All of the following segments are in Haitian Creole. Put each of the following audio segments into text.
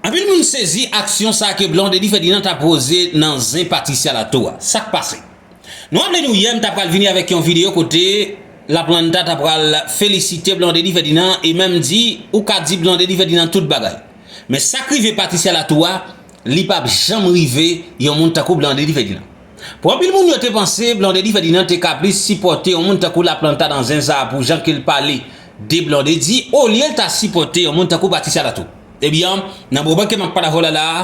Anpil moun sezi aksyon sa ke Blondedy Ferdinand ta poze nan zen Patricia Latto a. Sak pase? Nou raple nou yè m ta pral vini avèk yon video kote La Planta ta pral felisite Blondedy Ferdinand e menm di ou ka di Blondedy Ferdinand tout bagay. Men sak rive Patricia Latto a, li pap janm rive yon moun tankou Blondedy Ferdinand. Pou anpil moun yo te panse Blondedy Ferdinand te ka plis sipòte yon moun tankou Laplanta nan zen sa pou jan ke l pale de Blondedy olye l ta sipòte yon moun tankou Patricia Latou. Ebyen, nan moman ke m ap pale avè w la la a,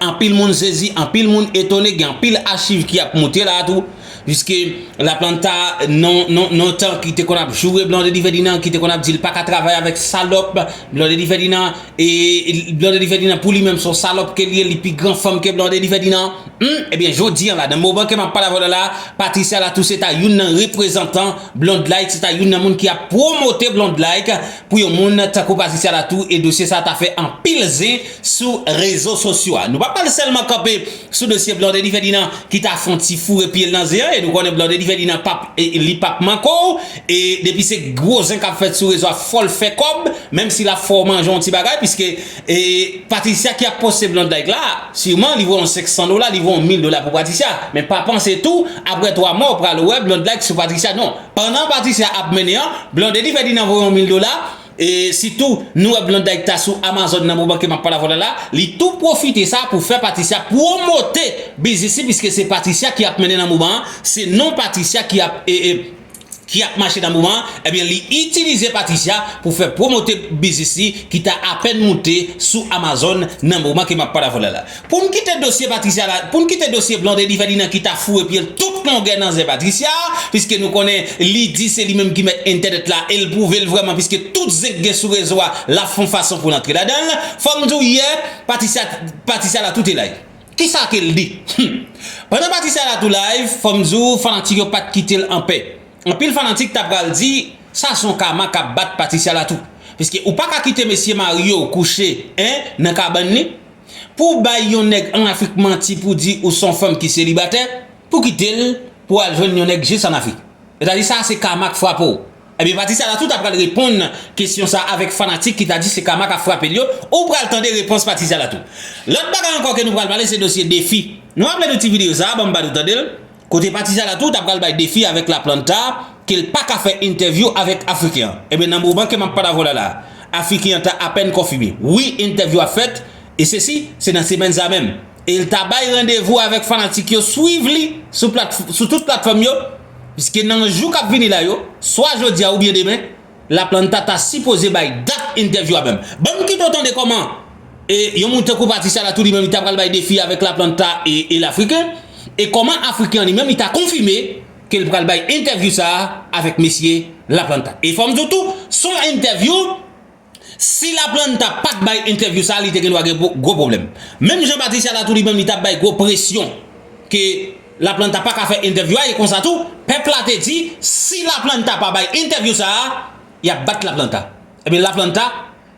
anpil moun sezi, anpil moun etone, gen anpil achiv ki ap moute la a tou, piske Laplanta non non non tan ki te konn ap joure Blondedy Ferdinand, ki te konn ap di l pa ka travay avèk salòp Blondedy Ferdinand, E blondedy Ferdinand pou li menm son salòp ke li ye li pi gran fanm ke blondedy Ferdinand humm ebyen jodi an la nan moman ke map pale avèw la la Patricia la tou se ta youn nan reprezantan blondlike se ta youn nan moun ki ap promote blondlike pou yon moun tankou Patricia la tou e dosye sa ta fè anpil zen sou rezo sosyo a nou pa pral sèlman kanpe sou dosye blondedy Ferdinand ki ta fon ti foure pyel nan zen an e nou konnen blondedy Ferdinand pap li pap mankow E depi se gwo zen kap fèt sou rezo a fòl fè kòb menm si lap fè w manje yon ti bagay piske e Patricia ki ap poste blond like la siman li voye yon 500 dola li voye yon 1000 dola pou Patricia men pa panse tou aprè 3 mwa w pral wè blond like sou Patricia non pandan Patricia ap mennen an Blondedy Ferdinand voye yon 1000 dola e sitou nou wè blond like ta sou Amazon nan moman ke map pale avè w la la li tou pwofite sa pou fè Patricia pwomote biznis li piske se Patricia ki ap mennen nan moman an se non Patricia ki ap e e ki ap mache nan moman an, ebyen li itilize Patricia pou fè pwomote biznis li ki ta apèn moute sou Amazon nan moman ke map pale avèw la la. Poun kite dosye Patricia la, poun kite dosye Blondedy Ferdinand ki ta foure pyel tout longè nan zen Patricia, piske nou konnen li di se li menm ki mèt entènèt la el pwouvel vrèman piske tout zen ki gen sou rezo a lap fon fason poul antre ladanl, fòm diw yè Patricia la tout elay. Kisa kel di? Humm. Pandan pati sa la tou live fòm di w fanatik yo pat kitel anpè. Anpil fanatik ta pral di sa son kama kap bat Patricia la tou. Piske ou paka kite mesye marye w kouche 1 nan kabann li. Pouw bay yon nèg an Afrik manti pou di ou son fanm ki selibatè, pou kitel pou al jwenn yon nèg jis an Afrik. Sètadi sa se kama k frape w. Ebyen pati sa la tou ta pral reponn kesyon sa avèk fanatik ki ta di se kama kap frapel yo, ou pral tande repons pati sa la tou. Lòt bagay ankò ke nou pral pale se dosye Defi. Nou raple nou ti videyo sa, banm ba nou tandel, kote pati sa la tou ta pral bay Defi avèk Laplanta kel paka fè entèvyou avèk Afriken an. Ebyen nan moman ke map pale avèw la la, Afriken an ta apèn konfime wi entèvyou ap fèt e sesi se nan semèn sa menm. E l ta bay randevou avèk fanatik yo swiv li sou tout platfòm yo, piske nan jou k ap vini la yo, swa jodi a oubyen demen, Laplanta ta sipoze bay dat entèvyou a menm. Ban m kite w tande kòman yon moun tankou Patricia Latour li menm li ta pral bay defi avèk Laplanta e l Afriken, e kòman Afriken an li menm li ta konfime ke l pral bay entèvyou sa a avèk mesye Laplanta. E fò m di w tou, s on entèvyou Si Laplanta pat bay entèvyou sa li te gendwa gen gwo pwoblèm. Menm jan Patricia la tou li menm li tap bay gwo presyon ke Laplanta paka fè entèvyou a e konsa tou pèp la te di si Laplanta pa bay entèvyou sa yap bat Laplanta. Ebyen Laplanta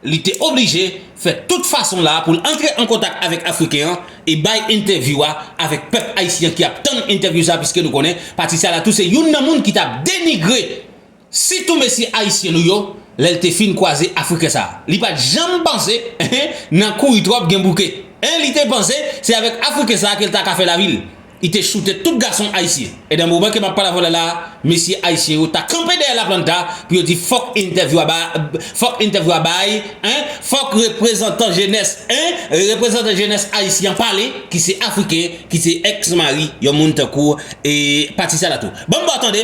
li te oblije fè tout fason la pou l antre an kontak avèk Afriken an e bay entèvyou a avèk pèp Ayisyen ki ap tann entèvyou sa piske nou konnen Patricia la tou se youn nan moun ki tap denigre Sitou mesye ayisyen nou yo lèl te fin kwaze afriken sa li pat janm panse nan kouri tròp gen bouke en li te panse se avèk afriken sa kel ta ka fè lavil li te choute tout gason ayisyen edan moman ke map pale avèw la mesye ayisyen yo ta kanpe dèyè la planta pou yo di fòk entèvyou a bay fòk entèvyou a bay en fòk reprezantan jenès en reprezantan jenès ayisyen an pale ki se afriken ki se ex mari yon moun tankou e pati sa la tou banm baw tande.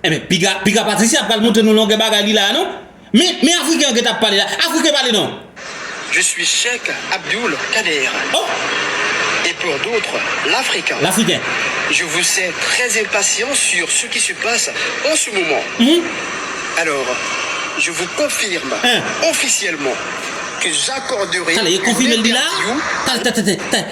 Enben piga piga Patricia pral montre nou longè bagay li la a non Men men afriken an gentan ap pale la afriken pale non. Je suis Cheikh Abdoul Kader oh! et pour d'autres l'Africain L'Africain Je vous sais très impatient sur ce qui se passe en ce moment Hum Alors je vous confirme Hein officiellement que j'accorderai Tale ye konfime l di la a Tale tè tè tè tè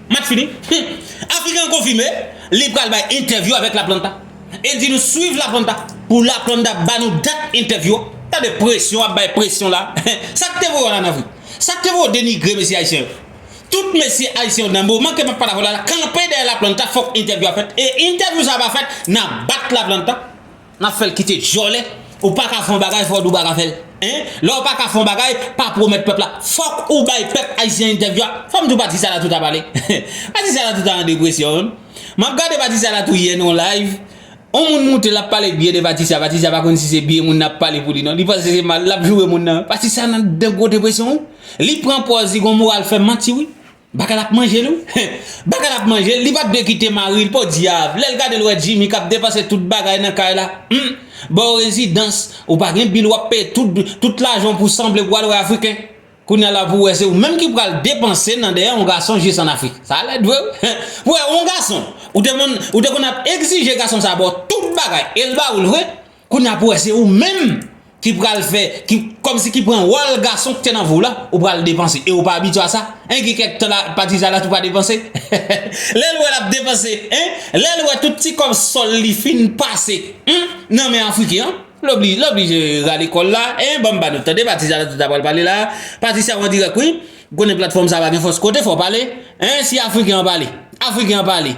Match fini? Humm! African konfime li pral bay entèvyou avèk Laplanta e di nou swiv Laplanta pou Laplanda ba nou dat entèvyou a. Tande presyon ap bay presyon la. Sa k te voye w al an Afrik? Sa k te voye w denigre mesye ayisyen yo? Tout mesye ayisyen yo danbo manke pa pale avè w la kanpe dèyè Laplanta fòk entèvyou a fèt e entèvyou sa a pa fèt n ap bat Laplanta. Nap fèl kite dyòlè ou paka fon bagay fò diw paka fèl hein lè ou paka fon bagay pa pwomèt pèp la fòk ou bay pèp ayisyen entèvyou a fòm diw pati sa la tout ap ale pati sa la tout an depresyon humm map gade pati sa la tou yè nan yon live yon moun moute lap pale byen de pati sa pati sa pa konn si se byen moun nan ap pale pou li nan li panse se mal lap joure moun nan pati sa nan gwo depresyon wi li pran pòz li gon moral fèm manti wi. Baka lap manjel wi heh. Baka lap manjel li pat dwe kite maril podiab lèl gadel wè Jimmy kap depanse tout bagay nan kay la humm baw rezidans ou pa gen bil wap peye tout lajanw pou sanble pou al wè afriken kounya la pou wè se ou menm ki pral depanse nan dèyè yon gason jis an afrik sa lèd vre wi heh pou wè yon gason ou te konn ap egzije gason sa baw tout bagay el bawol vre Kounye a pou wè se ou menm ki pral fè, ki kòm si ki pran wòl gason ki te nan vi w la, ou pral depanse e ou pa abitye a sa, hein gen kèk tan pati sa la tou pa depanse, lè l wè l ap depanse, hein lè l wè tout ti kòb sòl li fin pase, humm nan men Afriken an, l oblije rale kò l la, hein ban m ba nou tande pati sa la tou ta pral pale la, pati sa an dirèk wi, ou konnen platfòm sa pa gen fòs kote fò w pale, hein si Afriken an pale, Afriken an pale.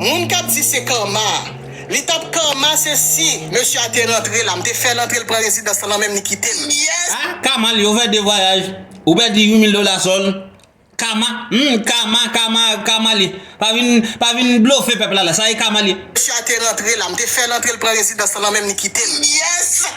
Moun kap di se karma. Li tap karma se si mesye a te rantre la m te fèl antre l pran rezidans lan nan menm li kite m yes. Ah kama li ovè de vwayaj ou pèdi 8000 dola sòl kama humm kama kama kama li pa vin pa vin blofe pèp la la sa e kama li. Mesye a te rantre la m te fèl antre l pran rezidans lan nan menm li kite m yes.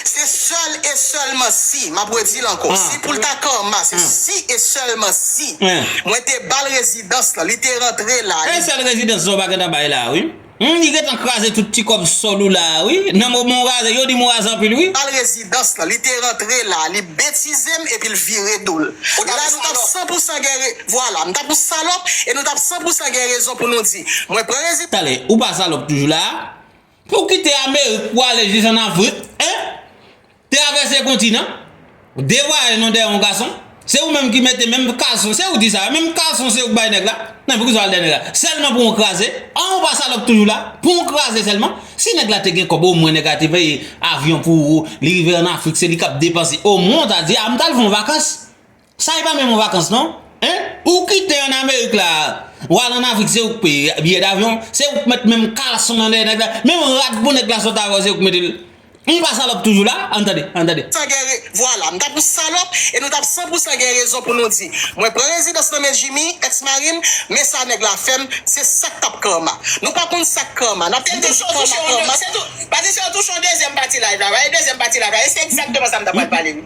Se sèl e sèlman si, m ap redi l ankò, si pou l ta Karma, se si e sèlman si mwen te ba l rezidans lan, li te rantre la, li. Se sèl rezidans Zoba gentan bay la a wi. Humm li gentan kraze tout ti kòb sòl ou la a wi. Nan moman ou raze, yo di m ou raze anpil wi. Ba l rezidans lan, li te rantre la a, li betize m epi l vire do l. La nou t ap san pou san gen re. Vwala, m t ap yon salòp e nou t ap san pou san gen rezon pou nou di, mwen pran rezidans. Tande, ou pa salòp toujou la a? Pou kite amerik pou ale jis an afrik eh travèse kontinan de vwayaj non dèyè yon gason se ou menm ki mete menm kalson se ou di sa wi menm kalson se ou ki bay nèg la nan poukisa wal dèyè nèg la sèlman pou yon kraze an ou pa salòp toujou la pou yon kraze sèlman si nèg la te gen kòb omwen nèg la te peye avyon pou ou li rive an afrik se li kap depanse omwen ou ta di a m tal fon vakans Sa e pa menm yon vakans non hein ou kite an amerik la ou al an afrik se ou ki peye biyè davyon se ou ki met menm kalson nan dèyè nèg la menm rad pou nèg la sot avèw se ou ki metel nou pa salòp toujou la an tande an tande. San gen re vwala nou ta pou salòp e nou tap san pou san gen rezon pou nou di mwen pran rezidans nan men jimmy ex marim men sa nèg la fèm se sak tap karma nou pa konn sak karma nap tann toujou karma karma. Patricia ou touche yon dezyèm pati live la wi dezyèm pati live la e se egzakteman sa m ta pral pale wi.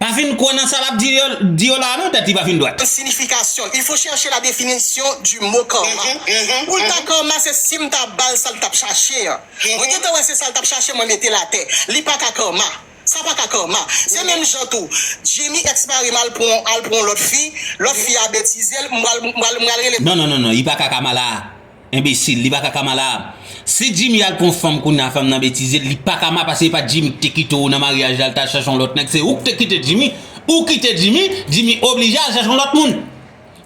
Pa fin kwè nan sa lap di yo di yo la non tèt li pa fin dwat. Signification, il faut chercher la définition du mot karma pou l ta karma se sim ta bal sal tap chache an mwen gentan wè se sal tap chache mwen metel atè li paka karma sa paka karma se menm jan tou Jimmy ex marim al pran al pran yon lòt fi lòt fi a betizel m pral m pral rele Non non non non li paka kama la. Enbesil, li pa ka kama la. Si Jimmy al pran fanm kounya fanm nan betizel li pa kama pase epa Jimmy ki te kite ou nan maryaj la al ta chache yon lòt nèg se ou ki te kite Jimmy ou kite Jimmy Jimmy oblije al chache yon lòt moun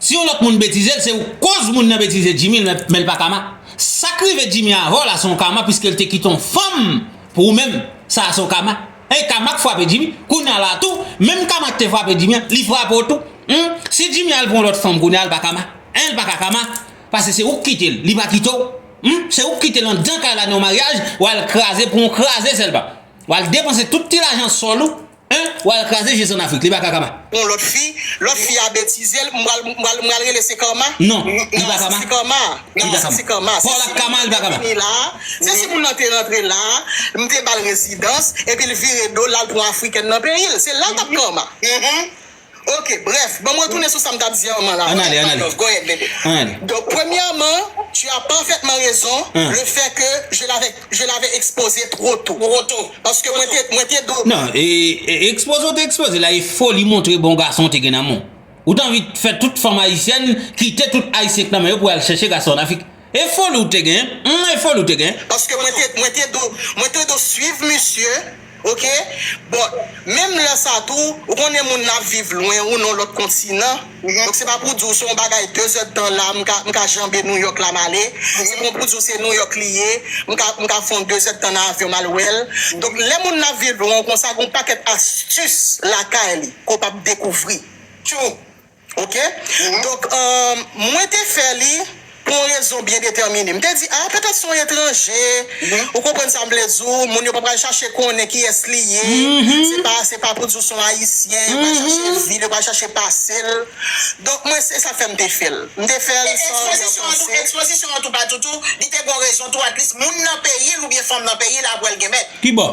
si yon lòt moun betizel se ou koz moun nan betize Jimmy menl pa kama sak rive Jimmy avèw la son kama piskel te kite yon fanm pou ou menm sa son kama e kama ki fwape Jimmy kounya la tou menm kama ki te fwape Jimmy an li fwape ou tou humm si Jimmy al pran yon lòt fanm kounya li pa kama li pa ka kama. Pase se ou k kite l, li pa kite w. Humm se ou k kite l andan kay la nan yon maryaj, w al kraze pou yon kraze Selva. W al depanse tout ti lajan sòl ou, humm w al kraze Jezi an Afrik, li pa ka kama. Yon lòt fi, lòt fi a betize l, m pral, m pral, m pral rele se Karma? Non, li pa kama. Se Karma, non se se Karma. Paw la kama, li pa kama. Se si moun nan te vini la, se si moun nan te rantre la, m te ba l rezidans, epi l vire do l, l al pran Afrikèn nan peyi l. Se la l t ap Karma. Humm. Ok, bref, banm retounen sou sam tap di an man la, An ale, an ale, go ahead baby, an ale. Donk premyèman, tu as parfaitement raison le fait que je l'avais je l'avais exposé trop tôt. Trop tôt. Paske mwen te mwen te do. Non, e ekspoze ou te ekspoze la e foli montre bon gason ou te gen nan men w. Ou t anvi fè tout fanm ayisyèn kite tout ayisyen k nan men yo pou al chèche gason an Afrik. E foli ou te gen humm e foli ou te gen. Paske mwen te mwen te do mwen te do swiv misye ok bon menm lè sa tou ou konnen moun nan ap viv lwen ou nan lòt kontinan donk se pa pou di w se yon bagay 2 zè d tan la m ka m ka janbe Nouyòk la m ale se pa pou di w se Nouyòk li ye m ka m ka fè yon 2 zè d tan nan avyon m al wè l donk lè moun nan ap viv lwen w konsa gen yon pakèt astis lakay li ke w p ap dekouvri tjou. Ok. Donk, mwen te fè li pou yon rezon byen detèmine. M te di, a, petèt se yon etranje, ou konprann sa m vle di w, moun yo pa pral chache konnen kiyès li ye, se pa, se pa pou di w se yon Ayisyen, yo pa chache vi l, yo pa chache pase l. Donk, mwen, se sa k fè m te fè l. M te fè l san byen panse. Ekspozisyon an tou, ekspozisyon an tou pa toutou, li te gen yon rezon tou, atlis moun nan peyi l oubyen fanm nan peyi l apre l gen mèt. Ki bò?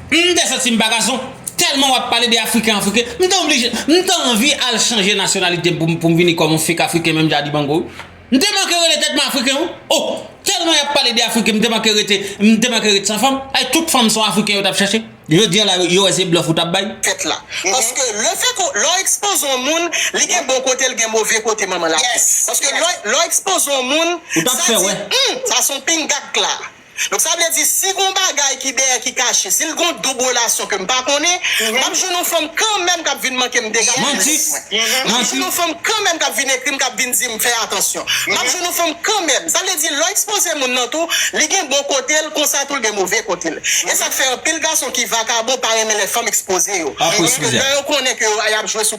M te santi m pa gason, tèlman wap pale de afriken afriken, m te oblije, m te anvi al chanje nasyonalite m pou m vini kòm yon fek afriken menm jan a Dibango wi. M te manke rele tèt mwen afriken wi, oh, tèlman yap pale de afriken m te manke rete, m te manke ret san fanm, ay tout fanm son afriken yo tap chache, jodi an la yo wè se blòf ou tap bay. Tèt la. Paske le fè ke lè w ekspoze yon moun, li gen bon kote l gen move kote manman l ap di. Paske lè w ekspoze yon moun, sa di, humm, sa son pingakk la. Donk sa vle di si gon bagay ki dèyè ki kache, si l gon doub relasyon ke m pa konnen, m ap jwenn yon fanm kanmèm k ap vin manke m dega nan adrès mwen. M ap jwenn yon fanm kanmèm k ap vin ekri m, k ap vin di m fè atansyon. M ap jwenn yon fanm kanmèm. Sa vle di lè w ekspoze moun nan tou, li gen bon kote l, konsa tou l gen move kote l. E sa k fè anpil gason ki vakabon pa renmen lè fanm ekspoze yo. Paske lè yo konnen ke y ap jwe sou.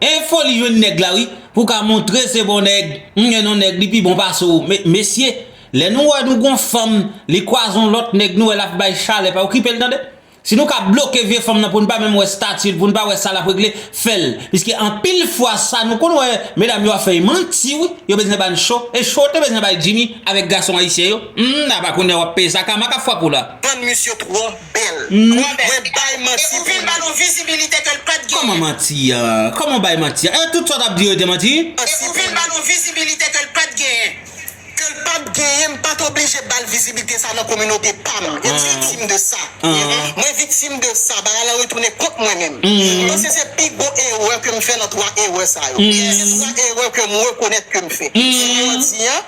Enfo li jwenn nèg la wi pou ka montre se bon nèg m gen yon nèg li pi bon pase w mesye lè nou wè nou gon fanm li kwaze yon lòt nèg nou wè lap bay chalè pa okipel tande si nou ka bloke vye fanm nan poun pa menm wè statil poun pa wè sa lap regle fèl piske anpil fwa sa nou konn wè medam yo ap fè manti wi yo bezwen bann cho e cho yo te bezwen bay Jimmy avèk gason ayisyen yo humm apa kounya wap peye sa kama kap fwape w la. Tann misye tro. bèl. Mwen bay manti pou nou. Epi l ba nou vizibilite ke l pat genyen. Kòman manti? Kòman w bay manti? E tout sa w t ap di yo yo te manti? Epi l ba nou vizibilite ke l pat genyen. Ke l pat genyen, m pat oblije ba l vizibilite sa nan kominote pa m. Mwen viktim de sa. Mwen viktim de sa. Bagay la retounen kont mwen menm. M panse se pi gwo erè ke m fè nan twa erè sa yo. Se twa erè ke m rekonèt ke m fè. Jounen jodi an,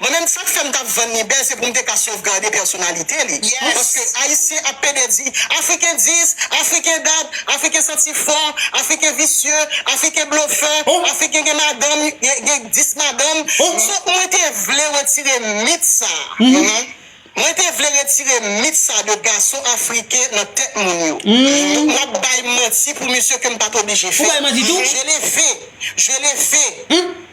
Mwen menm sak fèm tap vann li bèl se poum te ka sovgade pèsonalite li paske ayisyen ap pede di afriken dis, afriken dat, afriken santi fò, afriken visye, afriken blofè, afriken gen madanm gen 10 madanm so mwen te vle retire mit sa mwen te vle retire mit sa de gason afriken nan tèt moun yo donk map bay manti pou misye kem pat oblije fè je le fais je le fais.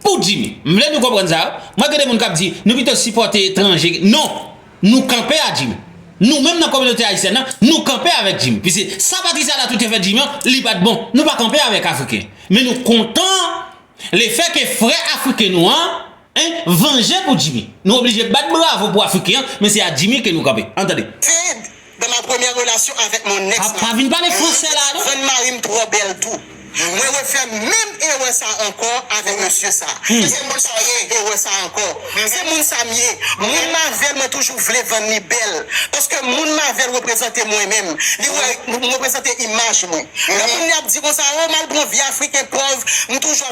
Pou Jimmy. M vle nou konprann sa. Mwen gen de moun kap di, nou pito sipòte etranje. Non! Nou kanpe a Jimmy. Nou menm nan kominote ayisyèn nan, nou kanpe avèk Jimmy. Piske sa Patricia Latou te fè Jimmy an, li pat bon. Nou pa kanpe avèk afriken. Men nou kontan lefè ke frè afriken nou an, en, vanje pou Jimmy. Nou oblije bat bravo pou afriken an, men se a Jimmy ke nou kanpe. An tande. Sid, Dans ma première relation avec mon ex mari, mwen te konprann mari m twò bèl tou. Mwen refè menm erè sa ankò avèk mesye sa. Se moun sa m ye, erè sa ankò. Se moun sa m ye. Moun m avè l mwen toujou vle vann li bèl. Paske moun m avè l reprezante mwen menm. Li wè m reprezante imaj mwen. Lè moun li ap di konsa, oh m al pran vi afriken pòv, m toujou ap.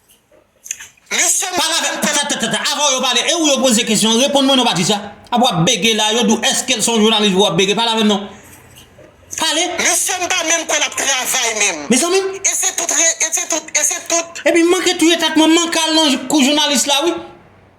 Mesye pa la menm tètètètètè avanw yo pale e ou yo poze kesyon reponn mwen non pati sa ap wap bege la yo diw eskel son jounalis wap bege pa la menm non pale Mesye m pa menm kwè lap travay menm Mezanmi e se tout e se tout e se tout. Epi m manke touye tèt mwen m manke al nan kou jounalis la wi.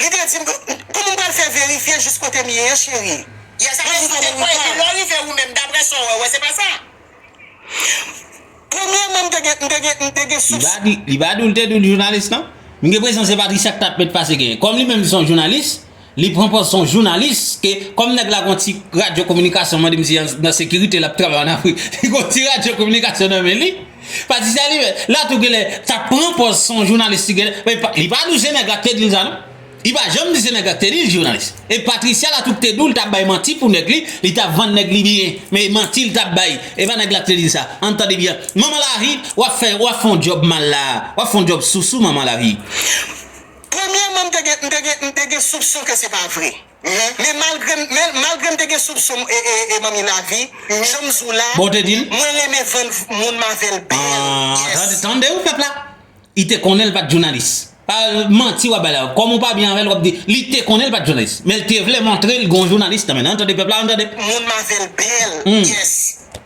Li te di m, Kouman m pral fè verifye jis kote m ye an, cheri? Yè sa Mwen di kote m rive an. Lè w rive ou menm, daprè sa w wè, ou wè se pa sa? Premyèman, m te gen, m te gen, m te gen soupson. Li pa di, li pa di w l te di w l jounalis non. M gen presyon se Patricia k t ap met pase genyen. Kòm li menm li se yon jounalis, li pran pòz se yon jounalis ke kòm nèg la gen yon ti radyo kominikasyon mande m si nan sekirite l ap travay an Afrik. Li gen yon ti radyo kominikasyon nan men li. Pa di sa li menm. La tou genlè tap pran pòz son jounalis li genlè men li pa dou se nèg la ki te dil sa non li pa janm di se nèg la ki te dil jounalis e Patricia la tou ki te dou li tap bay manti pou nèg li li tap vann nèg li byen men manti li tap bay e pa nèg la ki te dil sa ann tande byen manman lavi wap fè wap fon djòb mal la wap fon djòb sousou manman lavi. Premyèman m te gen m te gen m te gen soupson ke se pa vre. Men malgre m te gen soupson m manmi lavi janm zou la mwen renmen vann moun m avèl bèl. Tande ou pèp la li te konnen li pat jounalis pa manti wap bay la kòm ou pa byen avèl wap di li te konnen li pat jounalis men li te vle montre li gon jounalis nan menl an tande pèp la an tande. Moun m avèl bèl yes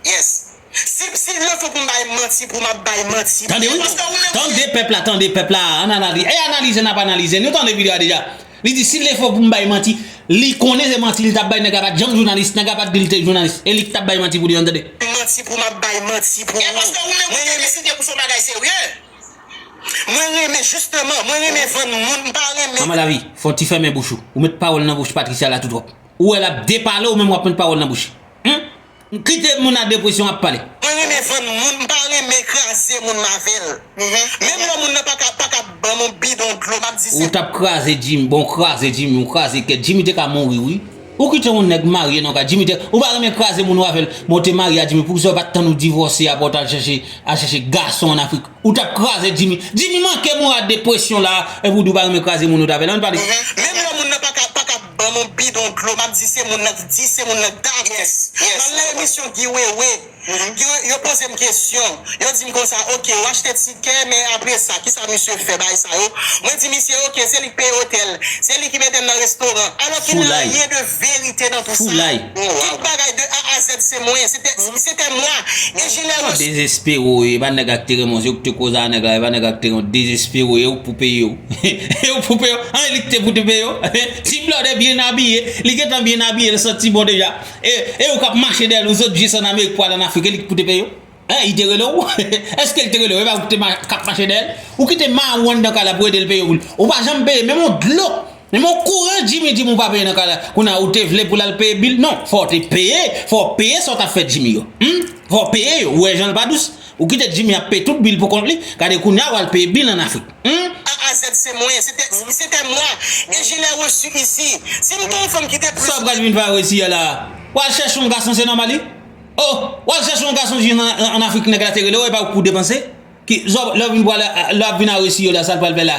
yes. Sipsi vle fè pou m bay manti pou m ap bay manti Tande wi nou, tande pèp la, tande pèp la a ananali e analize n ap analize Nou tande video a deja Li di si vle fè pou m bay manti Li konnen se manti li t ap bay nèg la pa t janm jounalis nèg la pa t di li te jounalis e li k t ap bay manti pou li an tande. manti pou m ap bay manti pou ou E paske ou menm ou te deside pou son bagay serye Mwen renmen jisteman mwen renmen vann moun m pa renmen Manman lavi fò w ti fèmen bouch ou Ou met pawòl nan bouch Patricia la tou twòp Ou wè l ap depale ou menm w ap met pawòl nan bouch li Humm Kite moun a depresyon ap pale. Mwen renmen vann moun m pa renmen kraze moun m avel menm lè moun nan paka paka banm on bidon dlo map di se. Ou tap kraze Jimmy bon ou kraze Jimmy ou kraze kèt Jimmy te ka mouri wi ou kite on nèg marye nan kay Jimmy te ou pa renmen kraze moun ou avèl bon ou te marye a Jimmy poukisa ou pat tann ou divòse aprè ou tal chèche al chèche gason an afrik ou tap kraze Jimmy Jimmy manke moun a depresyon la epi ou di ou pa renmen kraze moun ou t avèl an pale. Menm lè moun nan paka paka. Ban nou bidon dlo map di se moun nan ki di se moun nan ki ta gen Nan lè emisyon Guy Wewe yo pozem kesyon yo dim konsa ok ou achte tikè men apre sa kisa misye fè bay sa yo mwen di misye ok se li ki peye otèl se li ki metem nan restoran alò ki nan anyen de verite nan tou sa tout bagay de A a Z se mwen se te mwa e je lè resu. Desespero e pa nèg ak te renmen w se ou ki te koz a nèg la e pa nèg ak te renmen w desespero e ou k pou peye w. He ou koupe yo an li kite koupe yo he ti blòdè byen abiye li gentan byen abiye li santi bon deja e e ou kap mache dèyèl ou zòt jis an amerik pou al an afrik e li ki koupe yo he li te rele ou eske li te rele ou epa ou kite kap mache dèyèl ou kite ma ou anndan kay la pou edel peye woul ou pa janm peye menm yon dlo menm yon kouran jimmy dim ou pa peye nan kay la kounye a ou te vle poul al peye bil non fòw te peye fòw peye sa ou tap fè jimmy yo humm fòw peye yo ou wè janl pa dous. Ou kite Jimmy ap peye tout bil pou kont li, gade kounya wal peye bil an Afrik humm. AZ se mwen, c'était moi et je l'ai reçu ici Si m te yon fanm ki te plus. Sa w pral vin va resi a la a? Wal chèche yon gason se nòmal wi Oh wal chèche yon gason jis an Afrik nèg la te rele w epa ou k pou depanse ki zòb lè w vin pwale lè wap vin a resi yo la sa l pral fè la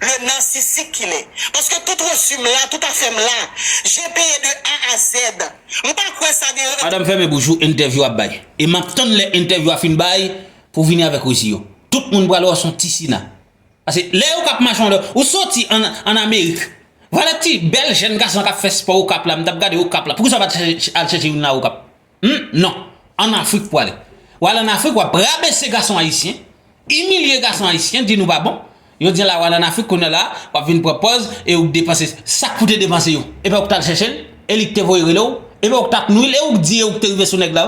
Le narcissique ki le. Paske tout reçu m la, tout afè m la. Je peye de A a Z. M pa kwè sa gen. Madam fèmen bouch ou entèvyou ap bay e map tann lè entèvyou a fin bay pou vini avèk resi yo tout moun pral wè w son ti sina pase lè ou kap mache yon lè ou soti an amerik valè ti bèl jèn gason kap fè spò okap la m tap gade okap la poukisa ou pat al chèche youn nan okap Humm non, an Afrik pou ale. W al an Afrik w ap rabese gason ayisyen, imilye gason ayisyen, di nou pa bon. Jodi an la w al an Afrik kounye an la w ap vin pran pòz e ou k depanse sa k pou te depanse yo. Epa ou k t al chèche l? E li k te voye rele w? Epa ou k t ap nwi l? E ou k di e ou k te rive sou nèg la?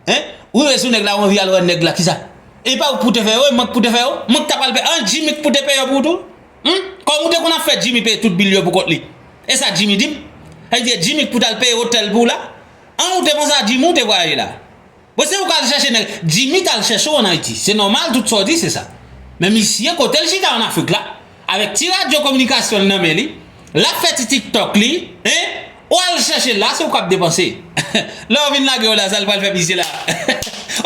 Hein? Ou rive sou nèg la ou anvi al wè nèg la kisa? Epa ou k pou te fè yo? E mwen k pou te fè yo? Mwen k ta pral peye? An Jimmy k pou te peye yo pou ou tou? Humm? Kòm ou te konn ap fè Jimmy peye tout bil yo pou kont li. E sa Jimmy di m? Sa vle di e Jimmy k pou t al peye otèl pou w la? An ou te konn sa Jimmy ou te vwayaje la. Bon se ou kal chèche nèg Jimmy tal chèche w an Ayiti se nòmal tout sa w di se sa men misye kote l chita an Afrik la avèk ti radyo kominikasyon l nan men li lap fè ti tiktok li hein ou al chèche l la se ou kap depanse lè yo vin lage w la sa l pral fè misye la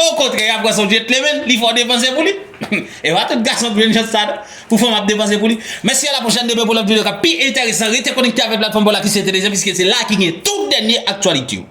okontrè yap wè son vye tlemèn li fè w depanse pou li epa tout gason t jwenn chans sa non. Pou fanm ap depanse pou li. Mèsi a la pwochèn demen pou lòt video kap pi enteresan rete konekte avèk platfòm Paw la ki se Telezen piske se la ki gen tout dènye aktyalite yo.